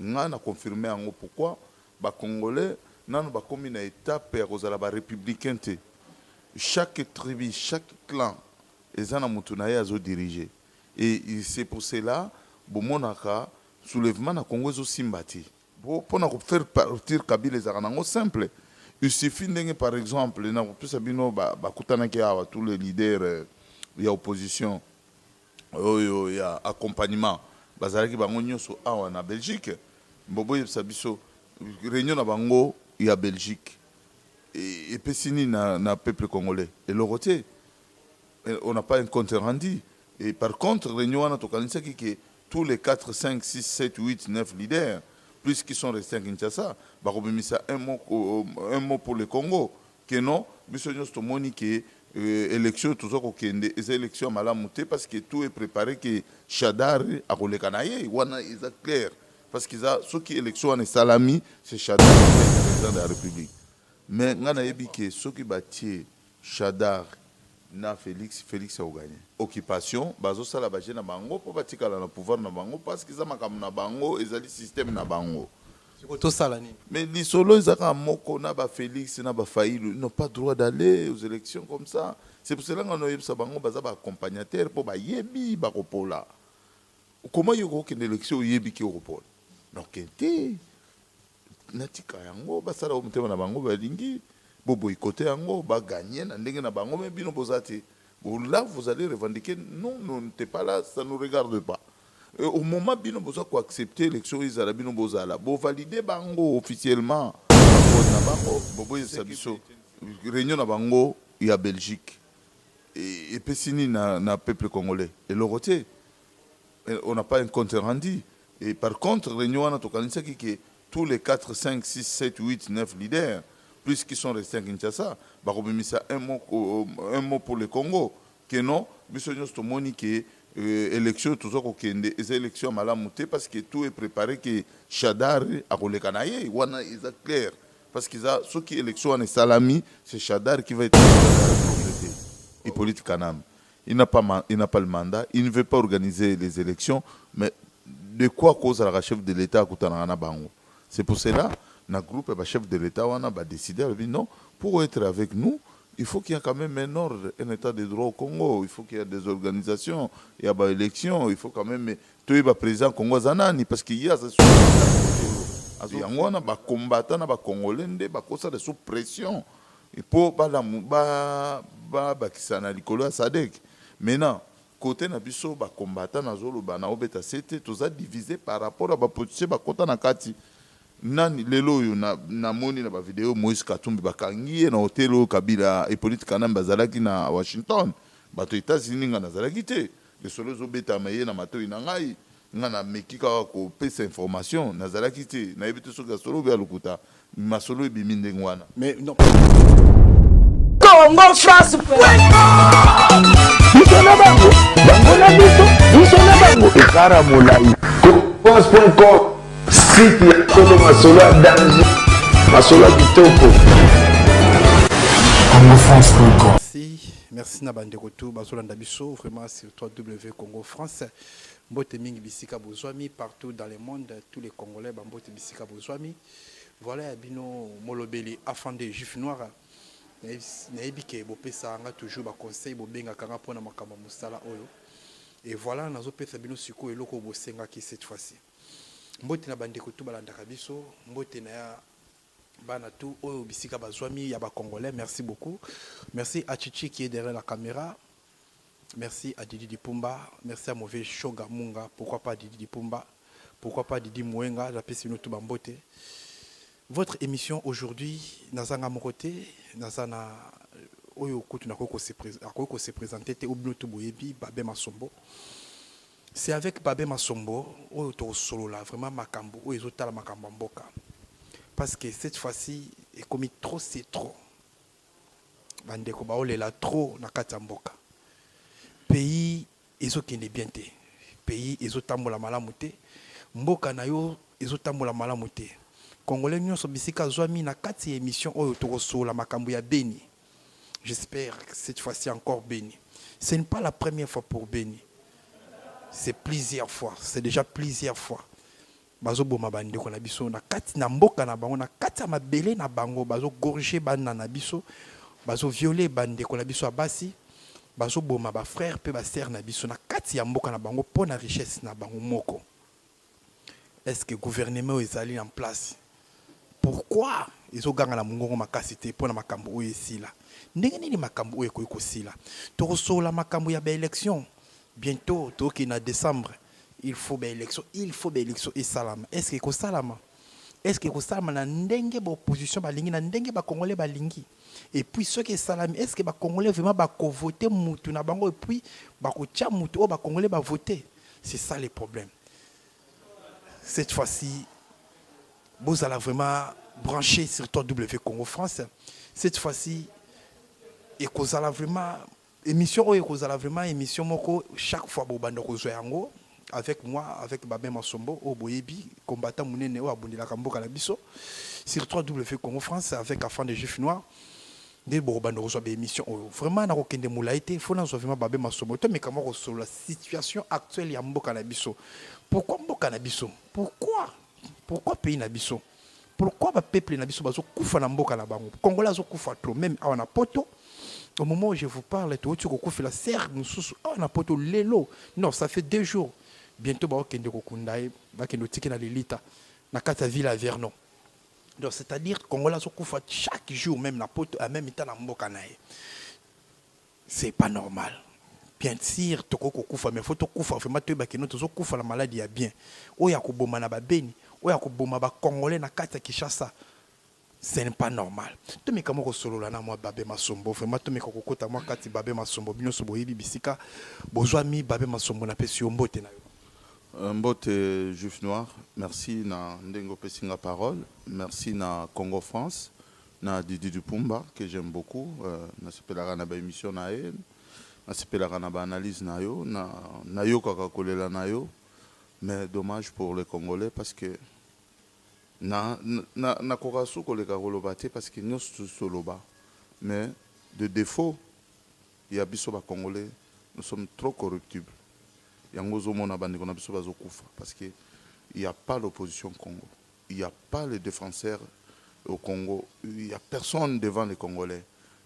Nga na confirme yango pourquoi ba congolais nanu bakomi na etape ya kozala ba republicains te. Chaque tribu, chaque clan eza na mutu naye azo diriger et c'est pour cela bomonaka soulevement na congo ezo simba te. Po pona ko faire partir kabila ezalaka nango simple il suffit ndenge par exemple nakopesa bino bakutanaki awa tous les leaders ya opposition oyo ya accompagnement bazalaki bango nyoso awa na Belgique mbo boyebisa biso reunion na bango ya Belgique epesi nini na, na peuple congolais eloko te on n'a pas un compte rendu et par contre reunion wana tokanisaki ke tous les 4 5 6 7 8 9 leaders plus qui sont restés à Kinshasa bakobimisa un mot un mot pour le Congo que non biso nionso tomoni que election toza kokende eza election ya malamu te parce que tout est prepare que Shadar akoleka na ye wana eza clair parce que eza soki election wana esalami c'est Shadar président de la République mais ngai nayebi que soki batie Shadar na Félix Félix akoganye occupation bazosala baje na bango mpo batikala na pouvoir na bango parce que eza makambo na bango ezali système na bango sikoyo tosala nini mais lisolo eza kaka moko na ba felix na ba failu ils n'ont pas droit d'aller aux élections comme ça c'est pour cela nga noyebisa bango baza ba accompagnateur mpo bayebi bakopola koma yo kokokende élection oyebi ki okopola noke te natika yango basala o motema na bango balingi boboyikote yango baganye na ndenge na bango me bino boza te Là vous allez revendiquer non non n'était pas là ça nous regarde pas. Et au moment bino boza ko accepter élection ezala bino bozala bo valider bango officiellement na bango bobo yesa biso réunion na bango ya Belgique et epesi nini na, na peuple congolais eloko te on n'a pas un compte rendu Et par contre reunion wana tokanisaki que tous les 4, 5, 6, 7, 8, 9 leaders plus qui sont restes à Kinshasa bakobimisa un mot, euh, un mot pour le Congo que non biso nyonso tomoni que euh, élection oyo toza kokende eza élection ya malamu te parce que tout est préparé que Shadar akoleka na ye wana eza clair parce que eza soki élection wana esalami c'est Shadar qui va être Hippolyte Kanambe il n'a pas il n'a pas le mandat il ne veut pas organiser les elections mais de quoi kozalaka chef de l'État akutanaka na bango c'est pour cela na groupe ba chef de l'État wana ba décider alobi non pour être avec nous il faut qu'il y a quand même un ordre, un état de droit au Congo. Il faut qu'il y ait des organisations, il y a des élections, il faut quand même. Tout le président Congo Zanani, parce qu'il y a ce yango wana bakombata na bakongole nde bakosala sous pression Et po balamu ba ba bakisa na likolo ya sadec maintenant cote na biso ba combattant nazoloba na obeta sete toza divise par rapport ya ba politiciens bakota na kati nani lelo oyo na namoni na ba video moise katumbi bakangi ye na hotel oyo kabila epolite kanambe azalaki na washington bato etats unis nga nazalaki te lisolo ezobetama eye na matoi na ngai Nga na meki kaka ko pesa information na zalaki te na yebi te soki ya solo ou bien ya lokuta masolo ebimi ndenge wana. Mais non. Congo France biso na bango bango na biso biso na bango ekara molai france.com site ya kolo masolo ya dange masolo ya kitoko Merci, merci na bandeko tout bazolanda biso vraiment sur www Congo France. Mbote mingi bisika bozwami partout dans le monde tous les congolais ba mbote bisika bozwami voilà ya bino molobeli afande juif noir nayebi ke bopesa nga toujours ba conseil bobengaka nga mpona makambo ya mosala oyo et voilà nazopesa bino sikoyo eloko oyo bosengaki cette fois-ci mbote na bandeko tu balandaka biso mbote na ya bana tu oyo bisika bazwami ya bacongolais merci beaucoup merci achichi qui est derrière la caméra Merci à Didi Dipumba, merci à Move Shoga Munga, pourquoi pas Didi Dipumba, pourquoi pas Didi Mouenga, la piste nous tout bambote. Votre émission aujourd'hui, Nazanga Morote, Nazana Oyo Kutu Nakoko se présenter, te Obino Tuboyebi, Babé Masombo. C'est avec Babé Masombo, Oyo Toro Solo là, vraiment Makambo, Oyo Zotala Makambo Mboka. Parce que cette fois-ci, est commis trop, c'est trop. bandeko baolela trop na kati ya mboka pays ezokende bien te pays ezotambola malamu te mboka na yo ezotambola malamu te congolais nyonso bisika azwami na kati ya émission oyo tokosola makambo ya beni j'espère cette fois-ci encore beni ce n'est pas la première fois pour beni c'est plusieurs fois c'est déjà plusieurs fois Bazo boma ba ndeko na biso na kati na mboka na bango na kati ya mabele na bango bazo gorge bana na biso bazo viole ba ndeko na biso ya basi bazo boma ba frère pe ba sœur na biso na kati ya mboka na bango po na richesse na bango moko est ce que gouvernement oyo ezali en place pourquoi ezo ganga na mungongo makasi te po na makambo oyo esila ndenge nini makambo oyo ekoki kosila tokosolola makambo ya ba élection bientôt toki na décembre Il faut ba election il faut ba election esalama est ce que ekosalama est ce que ekosalama na ndenge ba opposition balingi na ndenge ba congolais balingi et puis soki esalami est ce que ba congolais vraiment bakovote mutu na bango et puis bakotya mutu oyo ba congolais bavote c'est ça le problème cette fois ci bozala vraiment branché sur toi w congo france cette fois ci ekozala vraiment Emission oyo ekozala vraiment emission moko chaque fois bobanda kozwa yango avec moi avec Babin Masombo oyo boyebi combattant munene oyo abundelaka mboka na biso sur 3W Congo France avec Afan de Juif Noir nde bokobanda kozwa ba émission oyo vraiment nakokende molai te fo nazwa vraiment Babin Masombo to mekama kosolola situation actuelle ya mboka na biso pourquoi mboka na biso pourquoi pourquoi pays na biso pourquoi ba peuple na biso bazo kufa na mboka na bango congolais azo kufa trop même awa na poto au moment où je vous parle touti kokufela serre mosusu awa na poto lelo non ça fait deux jours bientôt baokende kokunda ye bakende otiki na lilita na kati ya ville ya vernon donc c'est à dire congolais azokufa chaque jour même na poto ya même temps na mboka na ye C'est pas normal. Bien sûr, toko kokufa mais faut tokufa vraiment toyeba kino tozo kufa na maladi ya bien. Oyo akoboma na babeni, oyo akoboma ba congolais na kati ya Kinshasa. Ce n'est pas normal. Tomeka moko solola na mwa babe masombo vraiment tomeka kokota mwa kati babe masombo bino so boyebi bisika bozwa mi babe masombo na pesi yo mbote na yo. Euh, mbote Juif Noir, merci na ndenge opesi nga parole. Merci na Congo France. na Didi Dupumba que j'aime beaucoup nasepelaka na ba emission na ye nasepelaka na ba analyse na yo na nayokaka kolela na yo mais dommage pour les congolais parce que na na nakoka su koleka koloba te parce que nyonso tusi toloba mais de défaut ya biso ba congolais nous sommes trop corruptibles yango ozomona bandeko na biso bazokufa parce que il y a pas l'opposition congo Il ya pas le defenseur au Congo il ya personne devant les congolais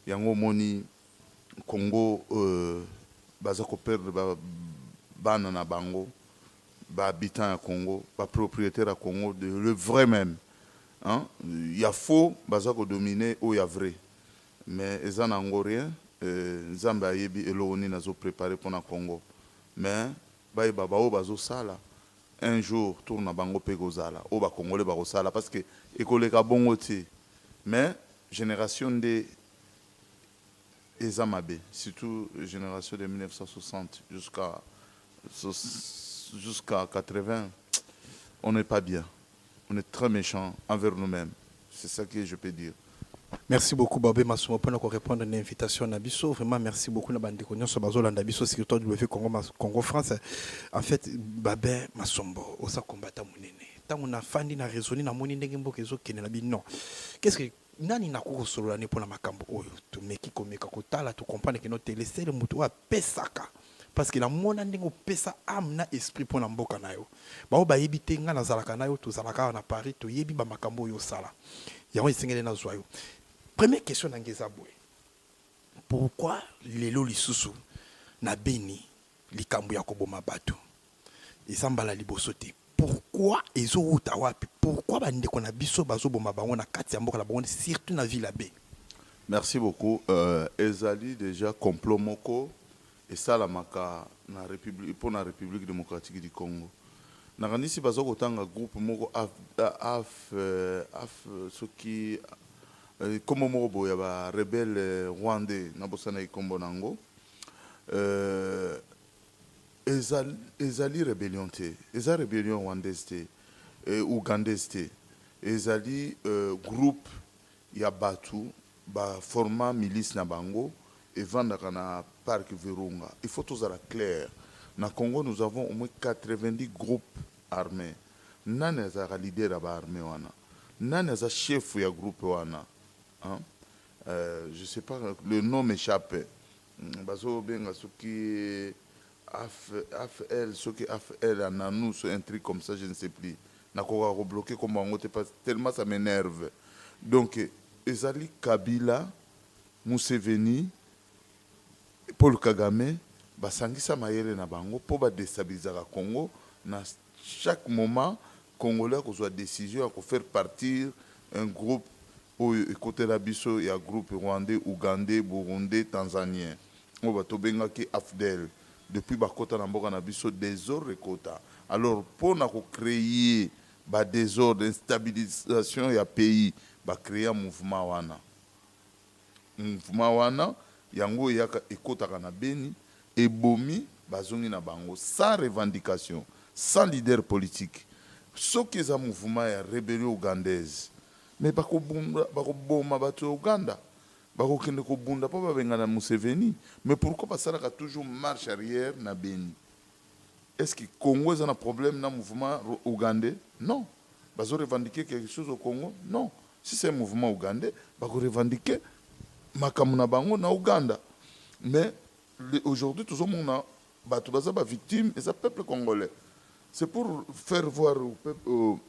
yango omoni Congo baza ko perdre ba bana na bango ba habitants ya Congo ba proprietaires ya Congo de le vrai meme hein ya faux baza ko dominer oyo ya vrai mais eza na yango rien nzambe ayebi eloko nini azo preparer pona Congo mais Bayeba ba oyo bazo sala un jour tour na bango pe eko zala oyo ba congolais bako sala parce que eko leka bongo te mais generation nde eza mabe surtout generation de 1960 jusqu'à jusqu'à 80 on est pas bien. on est très mechant envers nous meme c'est ça que je peux dire. Merci beaucoup Babé Masuma pona ko répondre na invitation na biso. Vraiment merci beaucoup na bande ko nyonso bazo landa biso sur toi WF Congo Mas Congo France. En fait Babé Masombo osa combattant munene. Tango na fandi na raisonner na moni ndenge mboka ezo kende na bino. Qu'est-ce que nani na ko solo la ne pona makambo oyo to meki ko meka ko tala to comprendre que no tele sele mutu a pesaka. parce que na mona ndenge opesa ame na esprit mpo na mboka na yo baoyo bayebi te ngai nazalaka na yo tozalaka awa na paris toyebi bamakambo oyo osala yango esengeli nazwa yo première question na ngai eza boye pourquoi lelo lisusu na beni likambo ya koboma bato Eza mbala liboso te. Pourquoi ezo wuta wapi? Pourquoi ba ndeko na biso bazo boma bango na kati ya mboka na bango surtout na ville ya beni? Merci beaucoup ezali dejà complot moko esalamaka na republi pona republique democratique du Congo nakanisi baza kotanga groupe moko af soki kombo moko boye ya ba rebelle rwandais nabosanaki kombo na yango euh Ezali rebellion te, eza rebellion rwandaise te, ougandaise te, ezali groupe ya batu ba forma milice na bango evandaka na parc Virunga. Il faut tozala clair, na Congo nous avons au moins 90 groupes armes, nani azalaka leader ya ba armes wana? Nani aza chef ya groupe wana? Hein? Je sais pas, le nom m'echappe. Bazo benga soki AFL soki AFL Ananus un truc comme ça je ne sais plus nakokaka ko bloquer kombo yango te tellement ça m'enerve donc ezali Kabila, Museveni, Paul Kagame basangisa mayele na bango po ba destabilisaka Congo na Chaque moment congolais akozua decision ya ko faire partir un groupe oyo ekotela biso ya groupe rwandais, ougandais, burundais, tanzanien oyo ba tobengaki afdl depuis bakota na mboka na biso desordre ekota alors po na ko creer ba desordre instabilisation ya pays ba crea mouvement wana Mouvement wana yango eyaka ekotaka na Beni, ebomi bazongi na bango sans revendication, sans leader politique. Soki eza mouvement ya rebellion ougandaise mais bakobunda, bakoboma batu ya Ouganda, bakokende kobunda po babengana Museveni. Mais pourquoi basalaka toujours marche arrière na Beni? Est-ce que Congo eza na problème na mouvement ougandais? Non. bazo revendiquer quelque chose au Congo non si c'est un mouvement ougandais bako revendiquer makambo na bango na Ouganda mais aujourd'hui tozomona bato baza ba victime eza peuple congolais c'est pour faire voir au, peuple, au,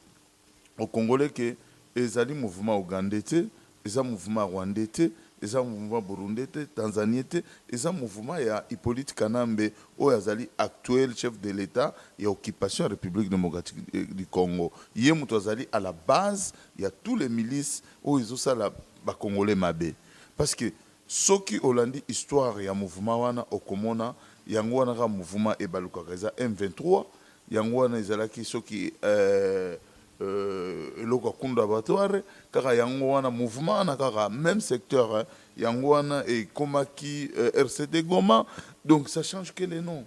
au congolais que ezali mouvement ougandais te Eza mouvement rwandais te, eza mouvement burundais te, tanzanien te, eza mouvement ya Hyppolite Kanambe oyo azali actuel chef de l'Etat ya occupation ya Republique democratique du Congo. Ye mutu azali à la base ya tous les milices oyo ezo sala ba congolais mabe. Parce que soki olandi histoire ya mouvement wana okomona yango wana kaka mouvement ebalukaka eza M23, yango wana ezalaki soki euh. Euh, eloko ya kunda abattoir kaka yango wana mouvement wana kaka même secteur hein. yango wana ekomaki euh, rcd goma donc ça change que les noms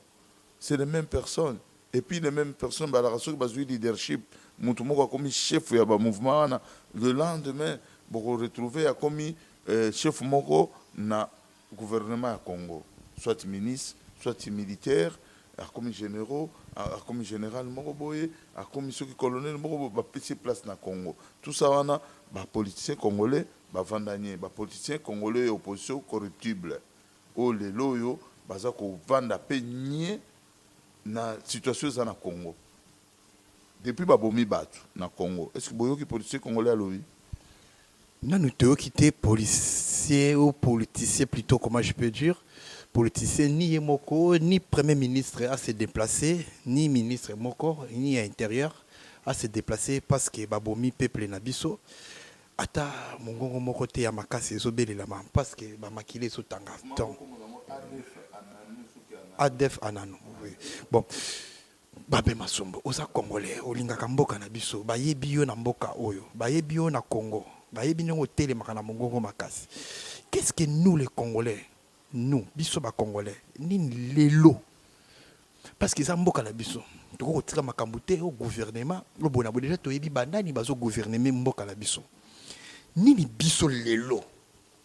c'est les mêmes personnes et puis les mêmes personnes balaka soki bazwi leadership motu moko akomi chef ya bamouvement wana le lendemain bokoretrouve akomi euh, chef moko na Gouvernement ya Congo soit minis soit militaire akomi generaux akomi general moko boye akomi soki colonel moko boye ba pesi ye place na Congo tout ça wana ba politiciens congolais ba vanda nye ba politiciens congolais ya opposition corruptible oyo lelo oyo baza ko vanda pe nye na situation eza na Congo. Depuis ba bomi batu na congo est ce que boyoki policier congolais alobi? Nanu toyoki te policier ou politicien plutot comment je peux dire politicien ni ye moko ni premier ministre a se deplacer ni ministre moko ni ya interieur a se deplacer parce que ba bomi peuple na biso ata mungongo moko te ya makasi ezo belelama parce que ba makila ezo tanga donc adf ananu oui bon. Babe Masombo, oza Congolais, olingaka mboka na biso, bayebi yo na mboka oyo, bayebi yo na Congo, bayebi ndenge otelemaka na mongongo makasi. Qu'est-ce que nous les Congolais, nous, biso ba Congolais, nini lelo? Parce que eza mboka na biso. Toko kotika makambo te au gouvernement, lo bona bo déjà toyebi banani bazo gouvernement mboka na biso. Nini biso lelo?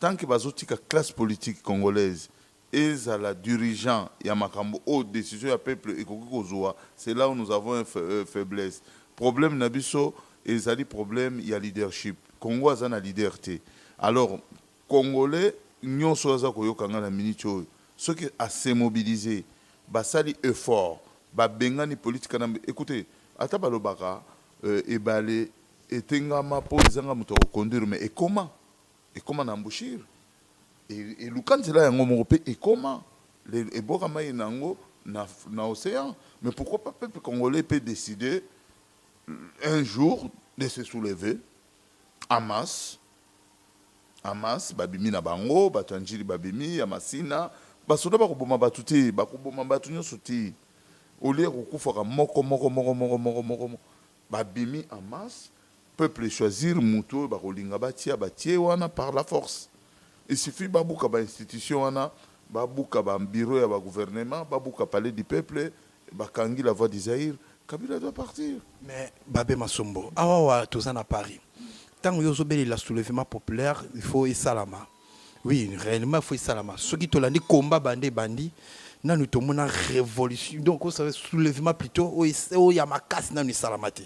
Tant que bazo tika classe politique congolaise ezala durigent ya makambo oyo decision ya peuple ekoki kozua c'est là où nous avons un faiblesse. Problème na biso ezali problème ya leadership. Congo aza na leader te. Alors congolais nionso oyo aza koyoka ngai na minute oyo soki a se mobiliser basali effort ba bengani Polite Kanambe ecoutez ata balobaka ebale etengama po ezanga moto ako conduire mais ekoma. Ekoma na embouchure, eluka nzela yango moko mpe ekoma eboka mai na yango na, na ocean. Mais pourquoi pas peuple congolais peut décider un jour de se soulever en masse en masse, babimi na bango, bato ya njili babimi ya masina, basoda bakoboma bato te, bakoboma bato nyonso te, olie kokufaka moko moko moko moko moko moko moko Ba bimi en masse, peuple e choisir mutu oyo bako linga ba tia, ba tie wana par la force. Il suffit ba buka ba institutions wana, ba buka ba bureaux ya ba gouvernements, ba buka palais du peuple, ba kangi la voix du Zaïre, Kabila doit partir. Mais Babe Masombo, awa awa toza na Paris, tango yo ozo belela soulevement populaire, il faut esalama, oui réellement faut esalama soki tolandi komba bande ebandi nanu tomona révolution donc osala soulèvement plutôt oyo ya makasi nanu esalama te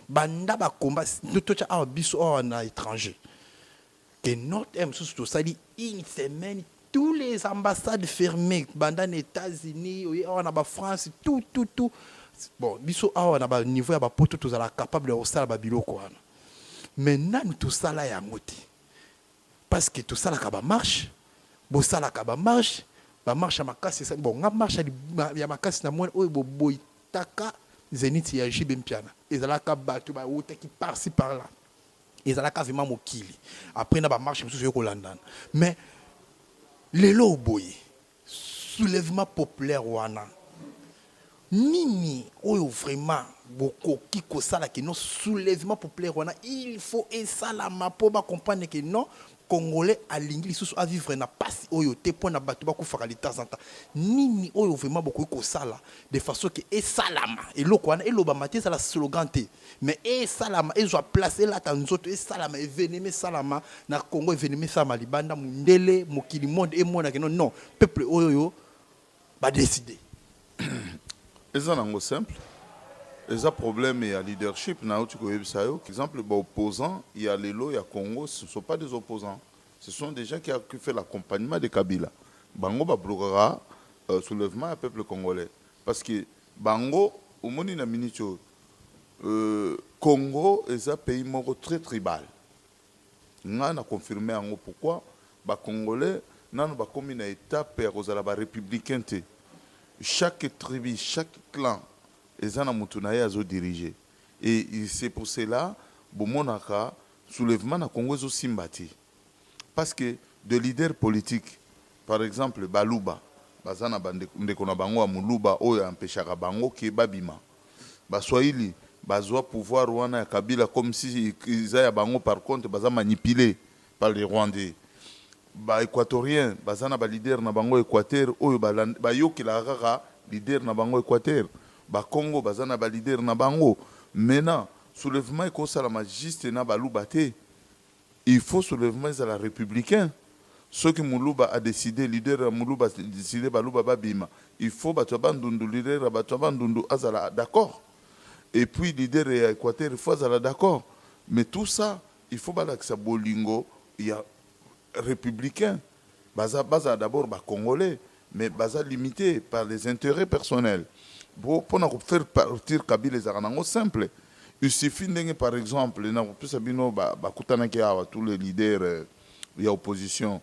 banda bakomba totya awa biso awa na étranger que notre aire mosusu tosali une semaine tous les ambassades fermées banda na états-unis oye awa na bafrance tout tout tout bon biso awa na baniveau ya bapoto tozala capable ya kosala babiloko wana mais nanu tosala yango te parce que tosalaka ba marche bosalaka ba marche ba marche ya makasi esali bon nga marche ya makasi na mwana oyo boboyitaka zenith ya jibe mpiana ezalaka bato bawutaki parci par là ezalaka vraimen mokili après na ba marche mosusu yo kolandana mais lelo oboye Soulèvement populaire wana nini oyo vraiment bokoki kosala que non soulèvement populaire wana il faut esalama mpo ba comprendre que non congolais alingi lisusu a vivre na pasi oyo te mpo na bato bakufaka de temps en temps nini oyo vraiment bokoki kosala de façon que esalama eloko wana elobama te ezala slogan te mais esalama ezwa place elata nzoto esalama evenema esalama na congo evenema esalama libanda mundele mokili monde emonake no non peuple oyo yo badeside eza nango simple eza problème ya leadership nauti koyebisa yo exemple baopposant ya lelo ya congo ce sont pas des opposants ce sont des gens qui a fait l'accompagnement de kabila bango bablokaka euh, soulèvement ya peuple congolais parce que bango omoni na minute oyo Congo eza pays moko très tribal nga na confirme yango pourquoi ba congolais nanu bakomi na etape ya kozala ba republicain te chaque tribu chaque clan eza na mutu naye azo dirige et c'est pour cela bomonaka soulevement na congo ezo simba te. parce que de leader politique par exemple baluba baza na bandeko ndeko na bango ya muluba oyo empeshaka bango ke babima baswahili bazwa pouvoir wana ya kabila comme si eza ya bango par contre baza manipule par les rwandais ba equatorien baza na ba leader na bango equateur oyo bayokelaka kaka leader na bango equateur ba congo baza na ba leader na bango maintenant soulèvement ekosalama juste na baluba te Il faut soulevement ezala republicain soki muluba a decide leader ya muluba a decide baluba ba bima il faut batu ya bandundu leader ya batu ya bandundu azala d'accord et puis leader ya equateur il faut azala d'accord mais tout ça il faut balakisa bolingo ya republicain. Baza bazala d'abord ba congolais mais baza limite par les interets personnels po pona ko faire partir kabila ezalaka na ngo simple il suffit ndenge par exemple na kopesa bino ba bakutanaki awa tous les leaders ya opposition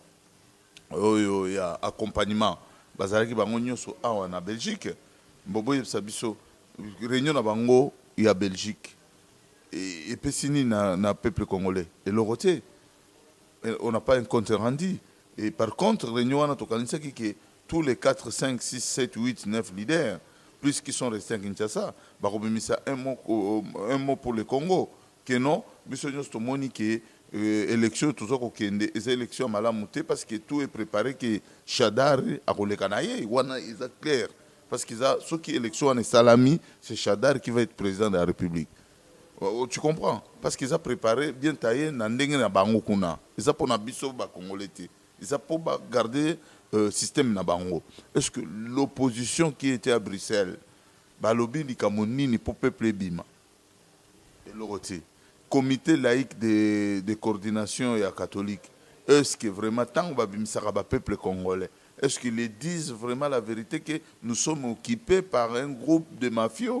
oyo ya accompagnement bazalaki bango nioso awa na Belgique bo boyebisa biso reunion na bango ya Belgique epesi nini na na peuple congolais eloko te. On n'a pas un compte rendu et par contre reunion wana tokanisaki que tous les 4, 5, 6, 7, 8, 9 leaders plus qui sont restés à Kinshasa bakobimisa un mot, euh, un mot pour le Congo que non biso nyonso tomoni que euh, élection oyo toza kokende eza élection ya malamu te parce que tout est préparé que Shadar akoleka na ye wana eza clair parce que eza soki élection wana esalami c'est Shadar qui va être président de la République Tu comprends parce que eza prepare bien taille na ndenge na bango kuna eza pona biso ba congolais te eza po ba garder euh, système na bango est ce que l'opposition qui était à Bruxelles balobi likambo nini po peuple ebima eloko te comité laïque de, de coordination ya catholique est ce que vraiment tango babimisaka ba peuple congolais est ce qu'ils disent vraiment la vérité que nous sommes occupés par un groupe de mafieux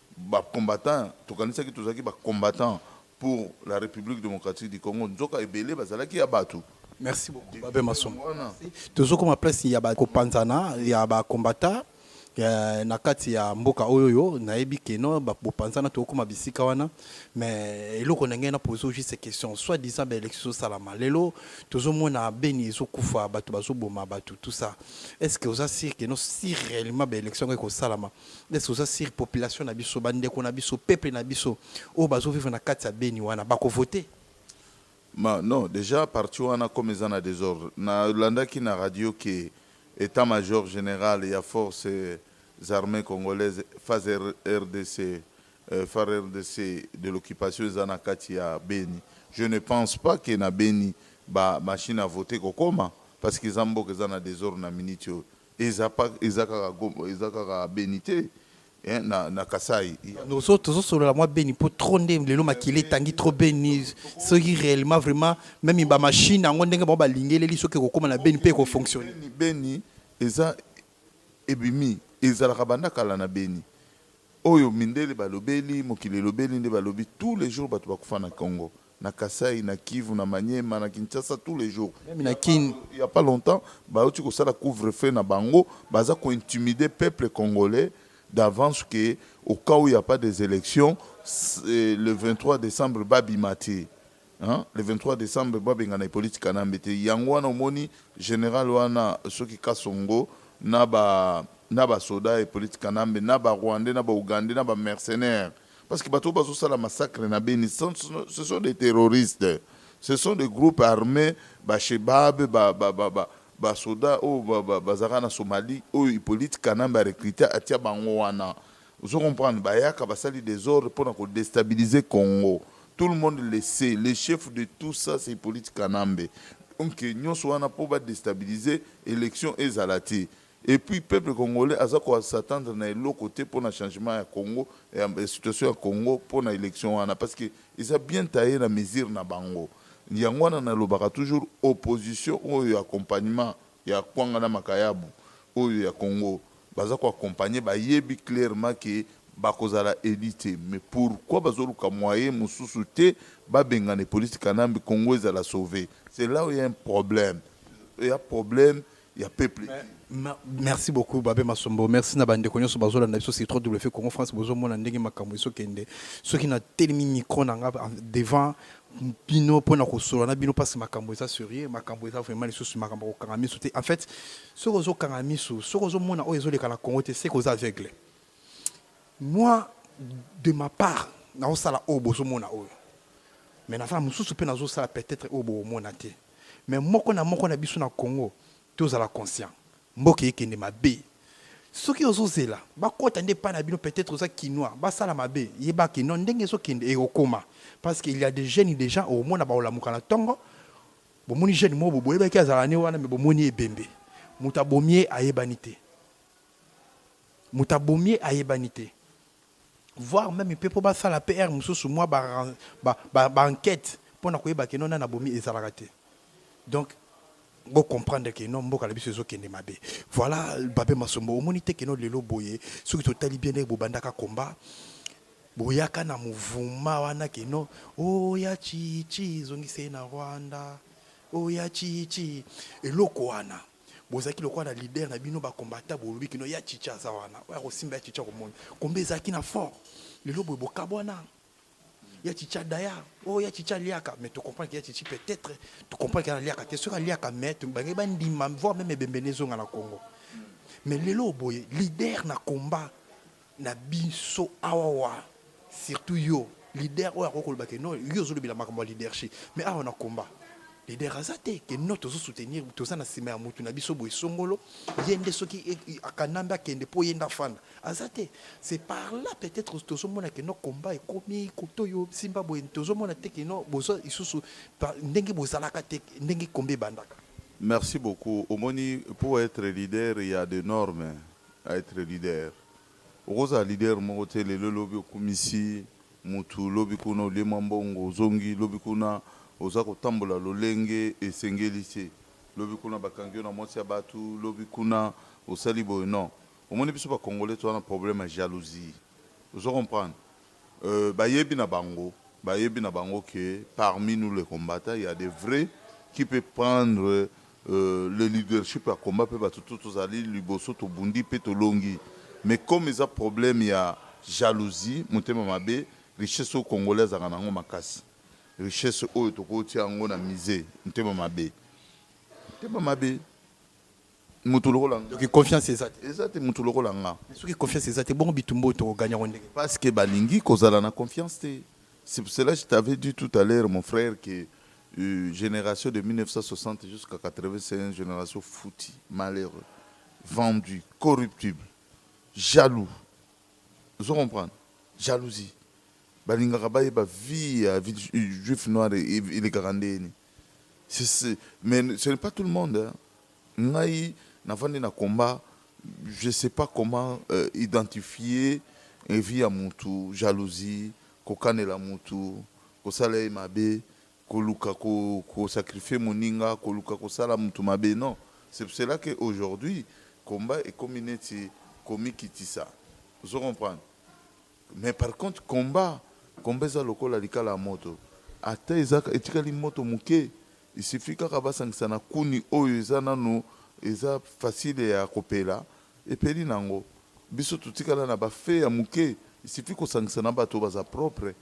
Ba combattants tokanisaki tozalaki ba combattants pour la Republique democratique du Congo nzoka ebele bazalaki ya batu. Merci beaucoup Babin Masombo. Tozo koma place ya ba ko panzana ya ba combattants na kati ya mboka oyoyo nayebi que non bo panzana toko koma bisika wana mais eloko na ngai na poser juste question soit disant ba elections ezo salama lelo tozo mona Beni ezo kufa batu bazo boma batu tout ça est-ce que oza sur que non si réellement ba elections yango eko salama Est-ce que oza sur population na biso, ba ndeko na biso, peuple na biso oyo bazo vivre na kati ya Beni wana bako voter? Ma, non, dejà parti wana comme eza na desordre, na landaki na radio que etat major general ya forces armees congolaises FARDC, euh, FARDC de l'occupation eza na kati ya Beni. Je ne pense pas que na Beni ba machine à voter kokoma parce que eza mboka eza na desordre na minute oyo. Eza pas eza kaka goma eza kaka beni te hein, na, na kasai Tozo tozo solola mwa beni po trop nde lelo makila etangi trop beni soki reellement vraiment meme ba machine yango ndenge bango ba lingeleli soki ekokoma na beni pe eko fonctionner. beni beni eza ebimi ezalaka banda kala na beni oyo mindele balobeli mokili elobeli nde balobi tous les jours bato bakufa na congo na Kasaï, na Kivu, na Maniema, na Kinshasa tous les jours meme na kin. Il ya pas longtemps bawuti kosala couvre feu na bango baza ko intimide peuple congolais d'avance que au cas où il ya pas des elections le 23 decembre ba bima te hein le 23 decembre ba bengana Hyppolite Kanambe te yango wana omoni general wana soki Kasongo na ba na ba soda ya Hyppolite Kanambe na ba rwandais na ba ougandais na ba mercenaires Parce que bato bazo sala massacre na Beni ce sont des terroristes ce sont des groupes armés ba Shebab ba ba ba ba ba soda oyo oh, ba ba zaka na Somalie oyo oh, Hippolyte Kanambe a recruté atia bango wana ozo comprendre bayaka basali desordre pona ko destabiliser Congo tout le monde le sait le chef de tout ça c'est Hippolyte Kanambe donc nyonso wana po ba destabiliser élection ezala te Et puis peuple congolais aza ko s'attendre na eloko te pona changement ya Congo ya situation ya Congo pona election wana parce que eza bien taille na mesure na bango yango wana na lobaka toujours opposition oyo ya accompagnement ya kwanga na makayabu oyo ya Congo baza ko accompagner ba yebi clairement que ba ko zala elu te mais pourquoi bazo luka moyen mususu te ba bengana Hyppolite Kanambe Congo ezala sauve c'est là où il ya un problème il ya problème ya peuple merci beaucoup babe masombo merci na bandeko nyonso bazolanda biso sur wf congo france bozomona ndenge makambo ezokende soki na telemi micro na nga devant bino mpona kosolola na bino mpasi makambo eza serie makambo eza vraiment lisusu makambo ya kokanga miso te en fait soki ozokanga miso soki ozomona oyo ezoleka na congo te seke oza aveugle moi de ma part naosala oyo bozomona oyo mais naza na mosusu mpe nazosala peut-être oyo boomona te mais moko na moko na biso na Congo tozala conscient mboka ekende mabe soki ozozela bakota nde epai na bino peut-être oza kinois basala mabe yeba ke non ndenge ezokende ekokoma parce que il y a des jeunes déjà omona baolamuka na ntongo bomoni jeune moko boyebaki azala ne wana me bomoni ebembe moto abomi ye ayebani te moto abomi ye ayebani te voir meme mpe mpo basala mpe heure mosusu mwa baenquete mpo na koyeba keno nani abomi ezalaka te donc bocomprendre ke no mboka na biso ezokende mabe voilà babe masombo omoni te keno lelo boye soki totali bien ndenge bobandaka combat boyaka na mouvuma wana keno oya oh, chichi ezongise na rwanda oya oh, chichi eloko wana bozalaki lokola na leader na bino bakombata bolobi kino ya chicha aza wana oyo akosimba ya chicha komoni kombe ezalaki na fort lelo boye bokabwana ya chicha daya oyo oh, ya chicha aliaka mais tocomprendre ya chichi peut-être tocomprendre ke aliaka te soki aliaka mais bange bandima voir meme ebembene ezonga na congo mais lelo boye leader na combat na biso awa surtout yo leader oyo akoki koloba ke no yo ozolobela makambo ya leadership mais awa na combat leader aza te ke no tozo soutenir toza na nsima ya motu na biso boye songolo ye nde soki e, e, akanambe akende mpo ye nde afanda aza te c'est par là peut-être tozomona ke no combat ekomi koto yo simba boye tozomona te ke no boza lisusu ndenge bozalaka te ndenge kombe ebandaka merci beaucoup omoni pour être leader ya de norme a etre leader okozala leader moko te lelo lobi okumisi mutu lobi kuna olie mwa mbongo ozongi lobi kuna oza kotambola lolenge esengeli te lobi kuna bakangi yo na mwasi ya batu lobi kuna osali boye non omoni biso ba congolais toza na problème ya jalousie ozo comprendre Euh bayebi na bango bayebi na bango que parmi nous les combattants il ya des vrais qui peut prendre euh, le leadership ya combat pe bato to tozali liboso tobundi pe tolongi mais comme eza problème ya jalousie motema mabe richesse oyo congolais azalaka na yango makasi richesse oyo tokotia yango na musee motema mabe motema mabe Mutu lokola nga. Donc confiance eza te. Eza te mutu lokola nga. Mais soki confiance eza te bongo bitumba oyo toko gagner yango ndenge. Parce que balingi kozala na confiance te. C'est pour cela je t'avais dit tout à l'heure mon frère que generation de 1960 jusqu'à 80 c'est un generation fouti, malheureux, vendu, corruptible, jaloux. Ozo comprendre? Jalousie. Balingaka bayeba vie ya juif noir elekaka ndenge nini. Mais ce n'est pas tout le monde. Hein. Ngai, navandi na combat, je sais pas comment euh, identifier vie à mutu, jalousie, kokanela mutu, kosala ye mabe, koluka ko, ko sacrifier moninga, koluka kosala mutu mabe. Non. C'est pour cela qu'aujourd'hui, combat et community, komikitisa. Vous comprenez Mais par contre combat combat eza lokola likala ya moto ata eza etikali moto moke il suffit kaka basangisa na kuni oyo eza nanu eza facile ya kopela epeli nango biso totikala na ba feu ya moke il suffit kosangisa na batu oyo baza propre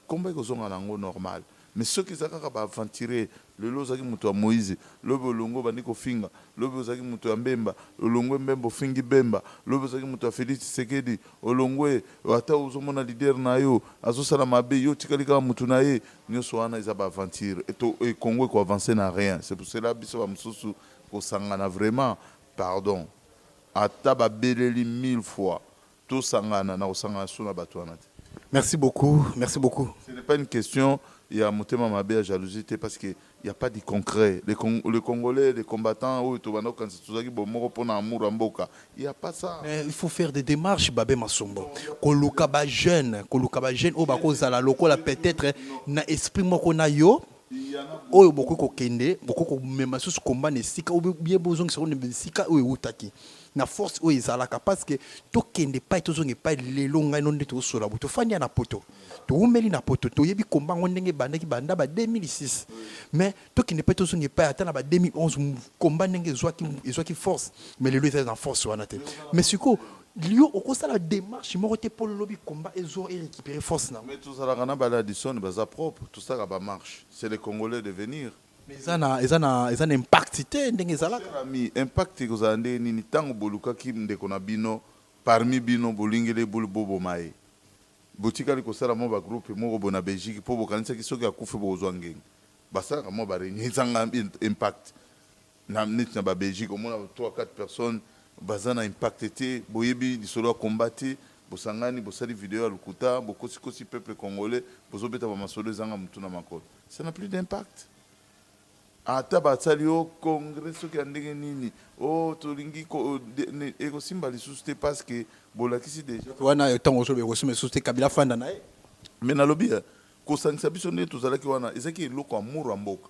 combat ekozonga nango normale. Mais soki eza kaka ba aventurier, lelo ozalaki moto ya Moise, lobi olongwe obandi kofinga, lobi ozalaki moto ya Mbemba, olongwe Mbemba ofingi Bemba, lobi ozalaki moto ya Felix Tshisekedi, olongwe, ata ozomona leader nayo azosala mabe, yo otikali kaka moto naye, nioso wana eza ba aventures et to et Congo eko avancer na rien, c'est pour cela biso ba mosusu kosangana vraiment pardon ata babeleli mille fois. Tosangana na kosangana sous na batu wana te. Merci beaucoup, merci beaucoup. Ce n'est pas une question ya motema mabe ya jalousie te parce que il y a pas du concret. Les, Cong les Congolais, les combattants oyo tobanda kokanisa tozalaki bomoko mpo na amour ya mboka. Il y a pas ça. Mais il faut faire des démarches babe masombo. Koluka ba jeunes, koluka ba jeunes oyo bakozala lokola peut-être na esprit moko na yo oyo bokoki kokende bokoki komema lisusu komba na esika oyo bie bozongisa oyo na esika oyo eutaki na force oyo ezalaka parce que tokende epai tozonga epai lelo ngai no nde tozosola bo tofandi ya na poto towumeli na poto toyebi komba yango ndenge ebandaki banda ba 2006 mais tokende epai tozonga epai ata na ba 2011 komba ndenge ezwaki ezwaki force mais lelo ezali na force wana te mais sikoyo yo okosala démarche moko te mpo lobi komba ezo erécupere force na mais tozalaka na baladison baza propre tosalaka bamarche c'est le congolais de venir Mais eza na eza na eza na impact te ndenge ezalaka. Cher ami, impact ekozala ndenge nini ntango bolukaki ndeko na bino parmi bino bolingele bul boboma ye? Botikali kosala mwa ba groupe moko boye na Belgique mpo bokanisaki soki akufi bokozwa ngenge? Basalaka mwa ba reunion ezanga impact. Na neti na ba Belgique omona trois quatre personnes baza na impact te, boyebi lisolo ya combat te, bosangani bosali video ya lokuta, bokosi kosi peuple congolais, bozo beta ba masolo ezanga mutu na makolo, ça n'a plus d'impact. Ata basali yo congrès soki ya ndenge nini, oh tolingi ekosimba lisusu te parce que bolakisi dejà wana tango ozo ekosimba lisusu te, Kabila afanda na ye. Mais nalobi kosangisa biso nde tozalaki wana ezalaki eloko amour ya mboka.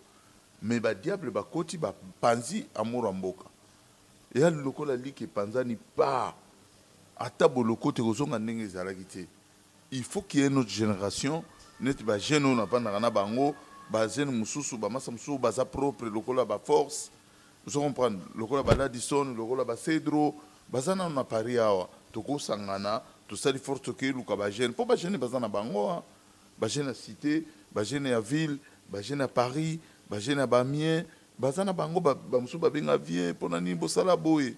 Mais ba diable ba koti ba panzi amour ya mboka eya lokola liki epanzani paa ata bolokote ekozonga ndenge ezalaki te il faut qu'il ya une autre generation neti ba jeune oyo navandaka na bango ba jeune mususu ba masa mususu baza propre lokola ba force ozo comprendre lokola ba ladison lokola ba cedro baza nanu na paris awa tokosangana tosali force tokeyi luka ba jeune po ba jeune baza na bango Ba jeunes ya cite, ba jeunes ya ville, ba jeunes ya Paris, ba jeunes ya ba miens baza na bango ba mususu ba benga vieux pona nini bosala boye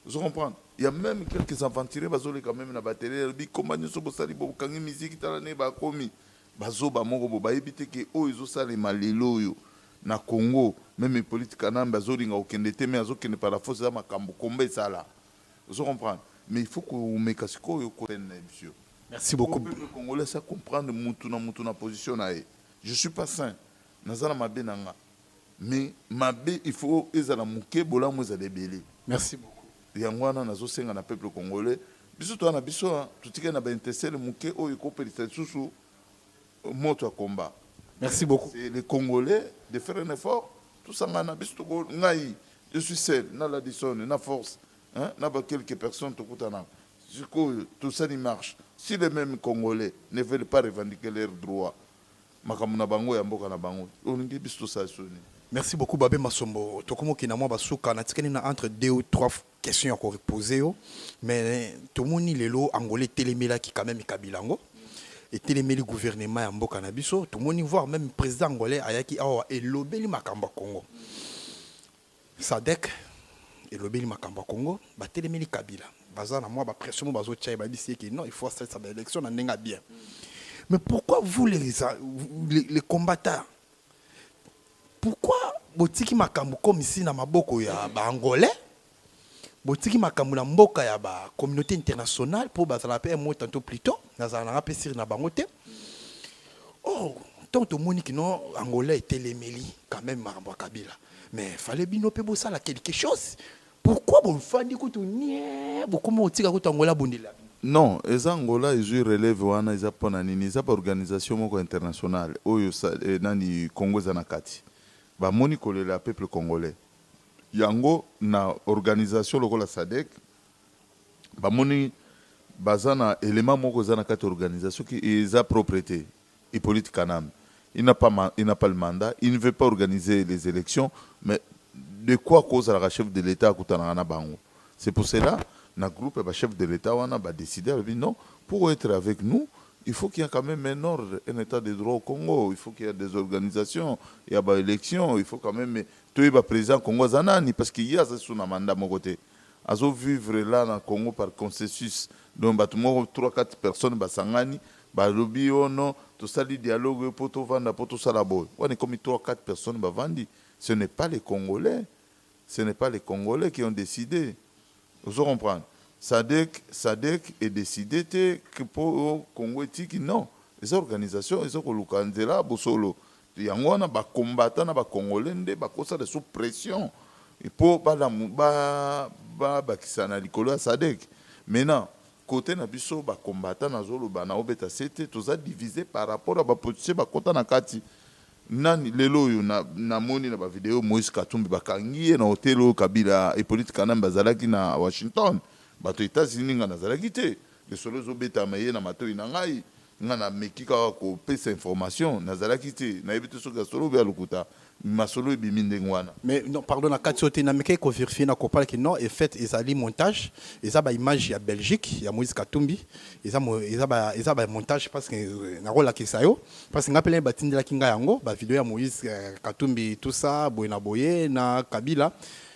ozo comprendre ya meme quelques aventuriers bazo leka meme na batele alobi komba nioso bosali bo kangi musique tala ne ba komi bazoba moko bo bayebi te ke oyo ezo salema lelo oyo na Congo meme Hippolyte Kanambe azolinga kokende te mais azokende par la force eza makambo komba esala Ozo comprendre? Mais il faut komeka sikoyo ko haine naye monsieur. Merci beaucoup. Pour peuple congolais asi a comprendre mutu na mutu na position naye. Je suis pas saint. Naza na mabe na nga. Mais mabe il faut ezala muke bolamu ezala ebele. Merci beaucoup. Yango wana nazo senga na peuple congolais biso toza na biso hein, totikali na ba intestele muke oyo eko pelisa lisusu Moto ya combat. Merci beaucoup. C'est les Congolais de faire un effort. Tout ça, ngana, biso toko ngai. Je suis seul. Na Ladison, na force. Hein? Na ba quelques personnes tokutana. Sikoyo, tout ça n'y marche. Si les mêmes Congolais ne veulent pas revendiquer leurs droits, makambo na bango ya mboka na bango. Olingi biso tosala soni. Merci beaucoup Babe Masombo. Tokomoki na mwa basuka natikani na entre deux ou trois fois. question ya ko reposer yo mais tomoni lelo Angola etelemelaki quand même Kabila yango etelemeli gouvernement ya mboka na biso tomoni voir même président angolais ayaki awa elobeli makambo ya Congo Sadek elobeli makambo ya Congo batelemeli Kabila baza na mwa ba pression moko bazotia ye babisi ye ke non il faut asalisa ba élection na ndenge ya bien mais pourquoi vous les, les, les combattants Pourquoi botiki makambu comme ici na maboko ya ba angolais? Botiki makambu na mboka ya ba communauté internationale po bazala pe un mot tantôt plus tôt nazala nanga pe sur na bango te. Oh, tant tomoni que non angolais etelemeli quand même makambo ya Kabila. Mais fallait bino pe bosala quelque chose. Pourquoi bofandi kutu niee bokomi kotika kutu Angola abundela bino? Non eza Angola ezui releve wana eza pona nini eza ba organisation moko ya international oyo nani Congo eza na kati ba moni kolela ya peuple congolais yango na organisation lokola sadec ba moni baza na element moko eza na kati organisation soki eza propre te Hypolite kanambe il n'a pas ma il n'a pas le mandat il ne veut pas organiser les elections mais de quoi ko zalaka chef de l'etat akutanaka na bango c'est pour cela na groupe ya ba chef de l'etat wana ba decider alobi non pour etre avec nous il faut qu'il ya quand meme un ordre un etat de droit au congo il faut qu'il ya des organisations ya ba elections il faut quand meme toyeba president congo aza nani parce que ye aza lisusu na mandat moko te azo vivre la na congo par concesus donc batu moko trois quatre personnes basangani balobi oh non tosali dialogue oyo po tovanda po tosala boye wana ekomi trois quatre personnes bavandi ce n'est pas les congolais ce n'est pas les congolais qui ont decide ozo comprendre sadek sadek e decide te po congo etiki non eza organisation ezo koluka nzela bosolo Yango wana ba combattants na ba congolais nde bakosa lisusu pression po balamu ba babakisa na likolo ya sadec maintenant cote na biso ba combattants nazoloba na obeta sete toza divise par rapport ya ba politiciens bakota na kati nani lelo oyo na namoni na ba video moise katumbi bakangi ye na hotel oyo kabila epolite kanambe bazalaki na washington bato etats unis nga nazalaki te lisolo ezobetama eye na matoyi na ngai Nga na meki kaka ko pesa information na zalaki te na yebi te soki ya solo ou bien ya lokuta mais masolo ebimi ndenge wana. Mais non pardon na kati yo te na mekaki ko verifier na comprendre que non en faite ezali montage eza ba images ya Belgique ya Moïse Katumbi eza eza ba eza ba montage parce que na ko lakisa yo parce que nga pe ba tindelaki nga yango ba video ya Moïse Katumbi tout ça boye na boye na Kabila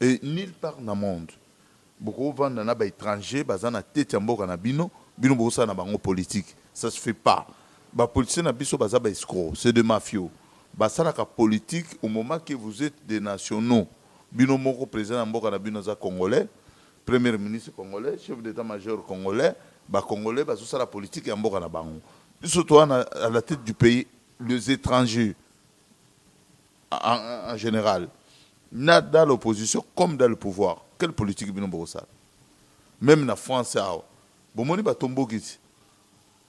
Et nulle part na monde boko vanda na ba etrangers baza na tete ya mboka na bino, bino bozo sala na bango politique ça se fait pas. Ba politiciens na biso baza ba escrocs, c'est des mafiaux. Ba salaka politique au moment que vous etes des nationaux. Bino moko president ya mboka na bino aza congolais, première ministre congolais, chef d'etat major congolais, ba congolais bazo sala politique ya mboka na bango. Biso toza na à la tete du pays, les etrangers. en general na dans l'opposition comme dans le pouvoir quelle politique bino bokosala même na france awa bomoni batomboki ti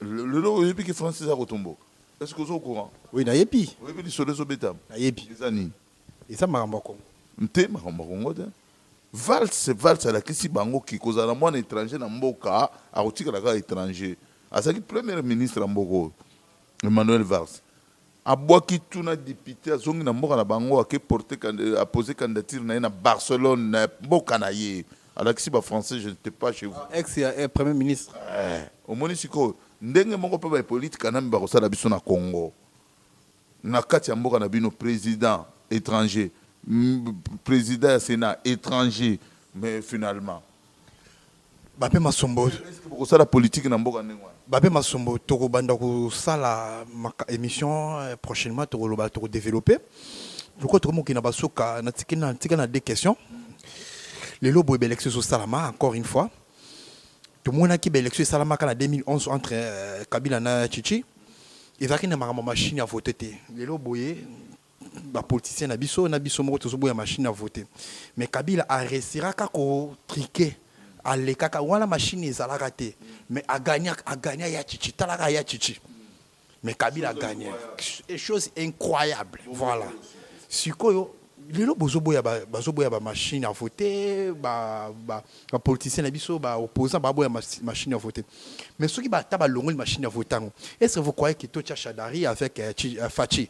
lelo oyebi ki france eza kotomboka est ce que oza au courant oui nayebi oyebi lisolo ezobetama nayebi eza nini eza makambo ya kongo nte makambo ya kongo te valse valse alakisi bango ki kozala na mwana étranger na mboka akotikala kaka étranger azalaki premier ministre ya mboka oyo emmanuel valse Abwaki tout na depute azongi na mboka na bango ake porte a pose candidature na ye na Barcelone na mboka na ye alakisi ba français je n'etais pas chez vous. Ex ya premier ministre. Ee, omoni sikoyo? Ndenge moko mpe ba hypolite kanambe bakosala biso na congo na kati ya mboka na bino president etranger, president ya senat etranger mais finalement bape masombo bokosala politiki na mboka ndenge wana bape masombo tokobanda kosala émission euh, prochainement tokoloba tokodeveloppe lokola tokomi kokenda basuka natika na deux questions lelo boye baélection ezosalama encore une fois tomonaki baélection esalamaka na 2011 entre euh, kabila na chichi ezalaki na makambo machine ya vote te lelo boye ba politiciens na biso na biso moko tozoboya machine à voter mais kabila a restera ka ko triquer alekaka wana machine ezalaka te mais agagna agagna ya chichi talaka ya chichi mais kabila agagna et chose incroyable voilà sikoyo lelo bozoboya bazoboya ba machine à voter ba ba ba politiciens na biso ba opposants baboya machine à voter mais soki bata balongoli machine à voter yango est-ce que vous croyez que tocha shadari avec euh, euh, Fatshi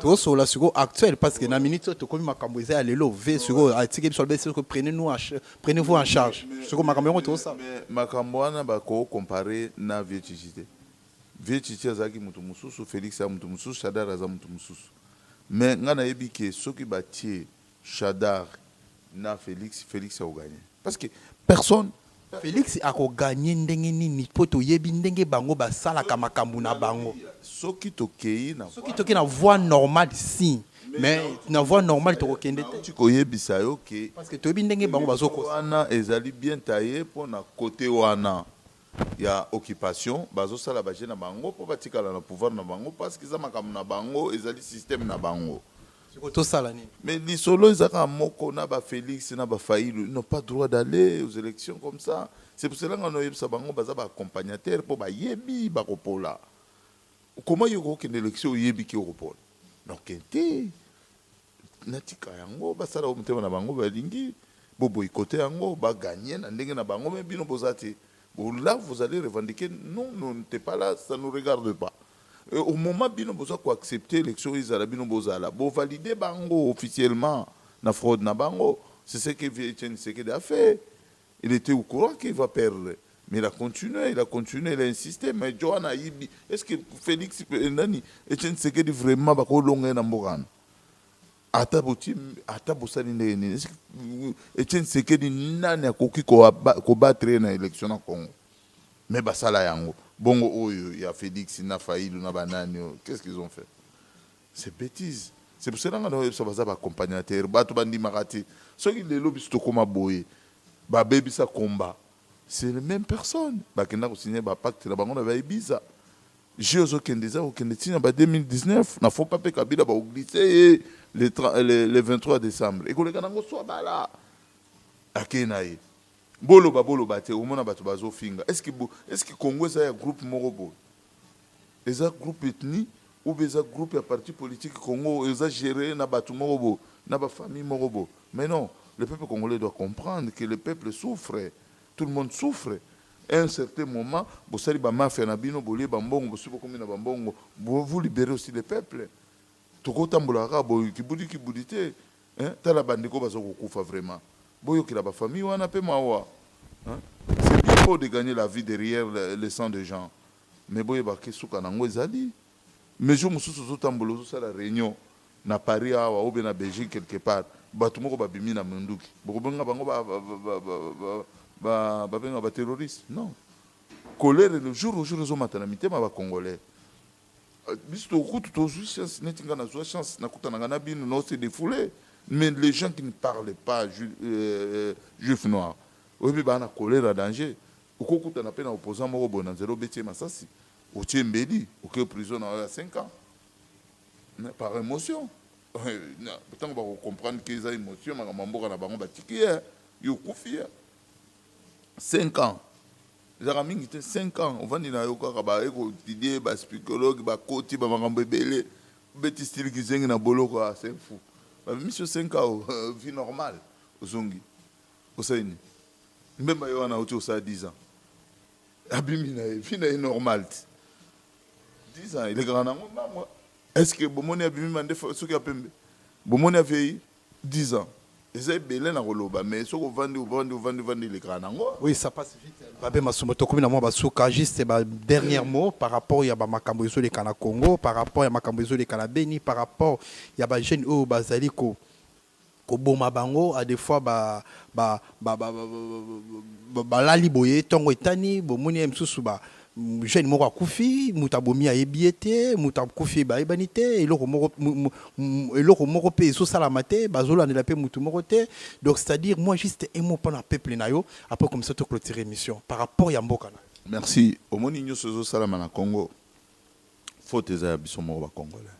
tozosola sikoyo actuel parce que na minute oyo tokomi makambo eza ya lelo ve sikoyo atiki biso alobeli sikoyo prenez nous prenez vous en charge sikoyo makambo yango tozosala makambo wana bako compare na vie chichi te vie chichi azalaki moto mosusu felix ya moto mosusu shadar aza moto mosusu mais ngai nayebi ke soki batie Shadary na Felix, Felix ako gagne parce que personne. Felix ako gagne ndenge nini po toyebi ndenge bango ba salaka makambu na bango. Soki tokeyi na. Soki tokeyi na voie normale si. Mais na voie normale toko kende te. Nauti koyebisa yo que. Parce que toyebi ndenge bango bazo kosa. Wana ezali bien taille pona cote wana. ya occupation bazo sala ba jeux na bango po batikala na pouvoir na bango parce que eza makambo na bango ezali système na bango siko tosala nini mais lisolo eza kaka moko na ba Felix na ba Fayilu n'ont pas droit d'aller aux élections comme ça c'est pour cela nga na oyebisa bango baza ba accompagnateur po bayebi bakopola comment yo okokende élection oyebi ki okopola donc te natika yango basala oyo motema na bango balingi boboyikote yango baganye na ndenge na bango me bino boza te là vous allez revendiquer non non n'était pas là ça nous regarde pas Et au moment bino boza koaccepte élection ezala bino bozala bovalide bango officiellement na fraude na bango c'est ce que vieux etienne sekede a fait Il etait au courant qu'il va perdre mais il a continue, il a continue, il a insiste mais Djo wana ayibi est ce que Felix eh, nani Etienne Tshisekedi vraiment bakolonga ye na mboka wana ata boti ata bosali ndenge nini est ce que Etienne Tshisekedi nani akoki koaba- kobattre ye na élection na Congo mais basala yango bongo oyo ya Felix na Fayulu na banani oyo qu'est ce qu'ils ont fait C'est betise c'est pour cela nga na oyebisa baza ba accompagnateur bato bandimaka te soki lelo biso tokoma boye babebisa combat c'est le même personne bakenda kosigne ba pacte na bango na ba ibiza je ozokende eza kokende ntina ba 2019 na fopa mpe kabila baoglise ye le, le, le 23 décembre ekoleka nango swa bala akei na ye boloba boloba te omona bato bazofinga eske congo eza ya groupe moko boye Eza groupe ethnie ou bien eza groupe ya parti politique congo oyo eza gere na batu moko bo na ba famille moko bo mais non le peuple congolais doit comprendre que le peuple souffre tout le monde souffre a un certain moment bosali ba mafia na bino bolie ba mbongo bosi bokomi na ba mbongo vous libere aussi le peuple tokotambola kaka boye kibudi kibudi te Hein tala ba ndeko bazo kokufa vraiment boyokela ba famille wana pe mawa hein c'est bien beau de gagner la vie derrière le sang de gens mais boyeba ke suka nango ezali mais jour mosusu ozotambola ozosala reunion na Paris awa ou bien na Belgique quelque part bato moko babimi na munduki bokobenga bango ba ba ba ba ba babenga ba terroriste non colère le jour au jour ezomata na mitema ba congolais Biso tokutu tozwi chance neti nga nazwa chance nakutanaka na bino no se defoule mais les gens qui ne parlent pas ju, euh, juif noir oyebi baa na kolera danger okokutana mpe na opposant moko boye na nzela obeti ye masasi otie mbeli oke prison na yo ya 5 ans par émotion ntango bakocomprendre ke eza émotion makambo ya mboka na bango batiki ye yo okufi ye 5 ans Ezalaka mingi te cinq ans ovandi na yo kaka ba ye ko etudier ba spicologue ba koti ba makambo ebele obeti style kizengi na boloko ah c'est un fou ba bimisi yo cinq ans vie normal ozongi osali nini mbemba ye wana auti kosala dix ans abimi na ye vie na ye normal ti dix ans elekaka na yango mbangua est ce que bomoni abimi mandefu suki ya pembe bomoni aveyi Dix ans eza ebele na koloba mais soki ovandi ovandi ovandi ovandi elekaka nango. Oui ça passe vite Babe Masumbo tokomi na mwa ba suka juste ba dernière mot par rapport ya ba makambo ezoleka na Congo par rapport ya makambo ezoleka na Beni par rapport ya ba jeunes oyo bazali ko koboma bango à de fois ba ba ba ba ba balali boye tongo etani bomoni ya misusu ba jeune moko akufi moto abomi ayebi ye te moto akufi bayebani te eloko moko eloko moko mpe ezosalama te bazolandela mpe moto moko te donc c'est à dire moi juste un mot mpona peuple na yo après comme ça to clôture émission par rapport ya mboka na merci omoni nyonso ezosalama na congo faute eza ya biso moko bacongolais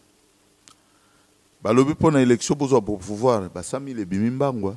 balobi mpo na élection bozwa pouvoir ba 100 000 ebimi mbangwa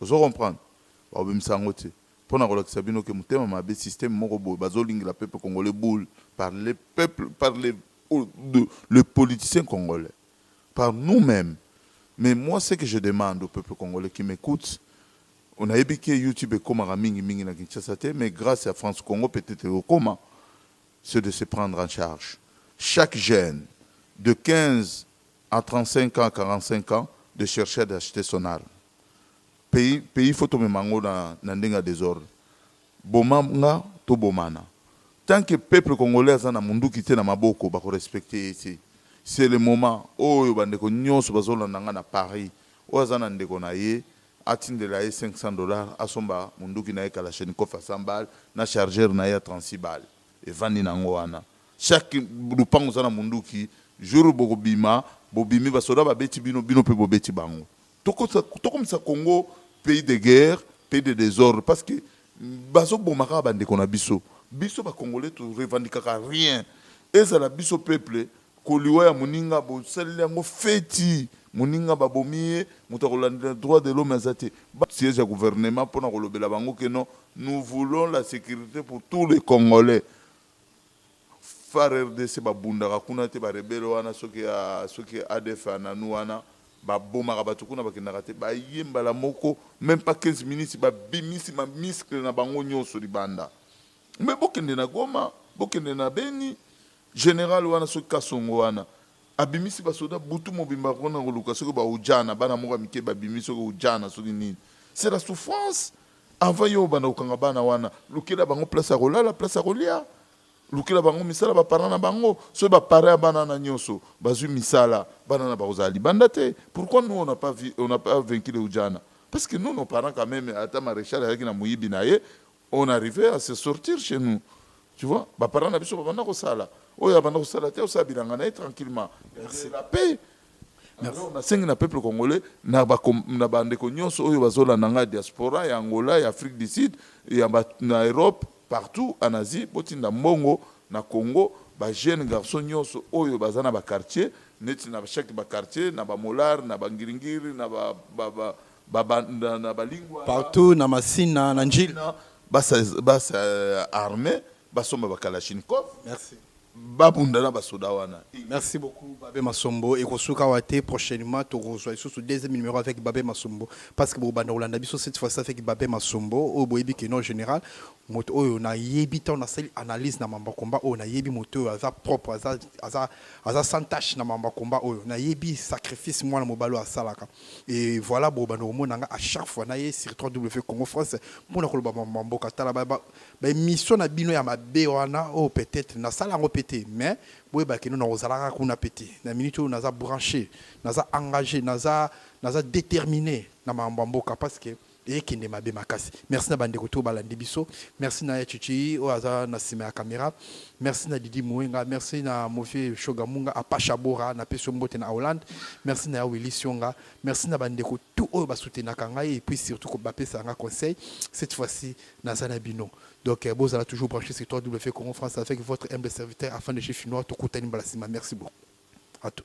Ozo comprendre? Bako bimisa yango te. Pona kolakisa bino que motema mabe système moko boye bazo lingela peuple congolais boule par les peuples par les les politiciens congolais par nous meme mais moi ce que je demande au peuple congolais qui m'ecoute nayebi ke youtube ekomaka mingi mingi na Kinshasa te mais grace ya France Congo peut-être ekokoma c'est de se prendre en charge chaque jeune de 15 A 35 ans 45 ans de chercher à d'acheter son arme pays pays faut tomema yango na na ndenge ya desordre boma nga tobomana tant que peuple congolais aza na munduki te na maboko bako respecter ye te c'est le moment oyo bandeko nyonso bazolanda nga na Paris oyo aza na ndeko na ye atindela ye 500 dollars asomba munduki na ye kalachnikov ya 100 balles na chargeur na ye ya 36 balles Evandi na ngo wana chaque lupangu oza na munduki jour bokobima bobimi ba soda babeti bino bino pe bobeti bango tokomisa congo pays de guerre pays de desordre parce que bazo boma kaka ba ndeko na biso biso ba congolais to revendikaka rien ezala biso peuple Ko liwa ya moninga bo saleli yango feti, moninga ba bomi ye, moto ako landela droit de l'homme aza te. Ba siège ya gouvernement pona ko lobela bango que non nous voulons la securite pour tous les congolais. Far rdc ba bundaka kuna te ba rebelles wana soki ya soki adf ya nanou wana ba bomaka batu kuna ba kendaka te ba ye mbala moko meme pas 15 minutes ba bimisi ma miscle na bango nioso libanda mais bo kende na goma bo kende na beni General wana soki kasongo wana abimisi ba soda butu mobimba pona koluka soki ba ujana bana moko ya mike babimi soki ujana soki nini c'est la souffrance avant yo obanda kokanga bana wana lukela bango place ya kolala place ya kolia lukela bango misala ba parents na bango soki ba parents ya bana na nyoso bazui misala bana na bakozala libanda te pourquoi nous on a pas on a pas vaincu le ujana parce que nous nos parents quand même ata maréchal ayaki na moyibi na ye On arrive à se sortir chez nous. Tu vois, ba parents na biso ba banda ko sala. Oyo abanda ko sala te, osala bilanga na ye tranquillement. Merci. La paix. Alors, na sengi na peuple congolais na ba com- na ba ndeko nyonso oyo bazolanda ngai diaspora ya Angola, ya Afrique du Sud, ya ba- na Europe, partout en Asie, botinda mbongo na Congo, ba jeunes garçons nyonso oyo baza na ba quartiers, neti na chaque ba quartiers, na ba Molar, na ba Ngiringiri, na ba, ba, ba Partout na Masina, na Ndjili. Bas armés, basomba ba kalachnikov. Merci. babunda na basoda wana merci beaucoup babe masombo ekosuka awa te prochainement tokozwa lisusu deuxième numéro avec babe masombo parce que bobanda kolanda biso cette fois avec babe masombo oyo boyebi ke non général moto oyo nayebi ntango nasali analyse na mamba combat oyo nayebi moto oyo aza propre aza, aza, aza sans tache na mamba combat oyo nayebi sacrifice mwana mobali oyo asalaka et voilà bo bando komona nga à chaque fois naye sur 3W Congo France mpona koloba mama mboka tala ba ba ba émission na bino ya mabe wana oh peut-être na sala yango pete mais boye ba kino na kozalaka kuna pete na minute oyo naza branché naza engagé naza naza déterminé na mama mboka parce que ekende mabe makasi merci na bandeko to balandi biso merci na ya chichi oyo aza na nsima ya kamera merci na didi muenga merci na mofie shogamunga apasha bora na pesi mbote na hollande merci na ya willi sionga merci na bandeko tout oyo basutenaka ngai et puis surtout bapesa nga conseil cette fois-ci naza na bino donc euh, bozala toujours branché sur 3 w congo france avec votre humble serviteur afin de chez finnois tokutani mbala nsima merci beaucoup à tout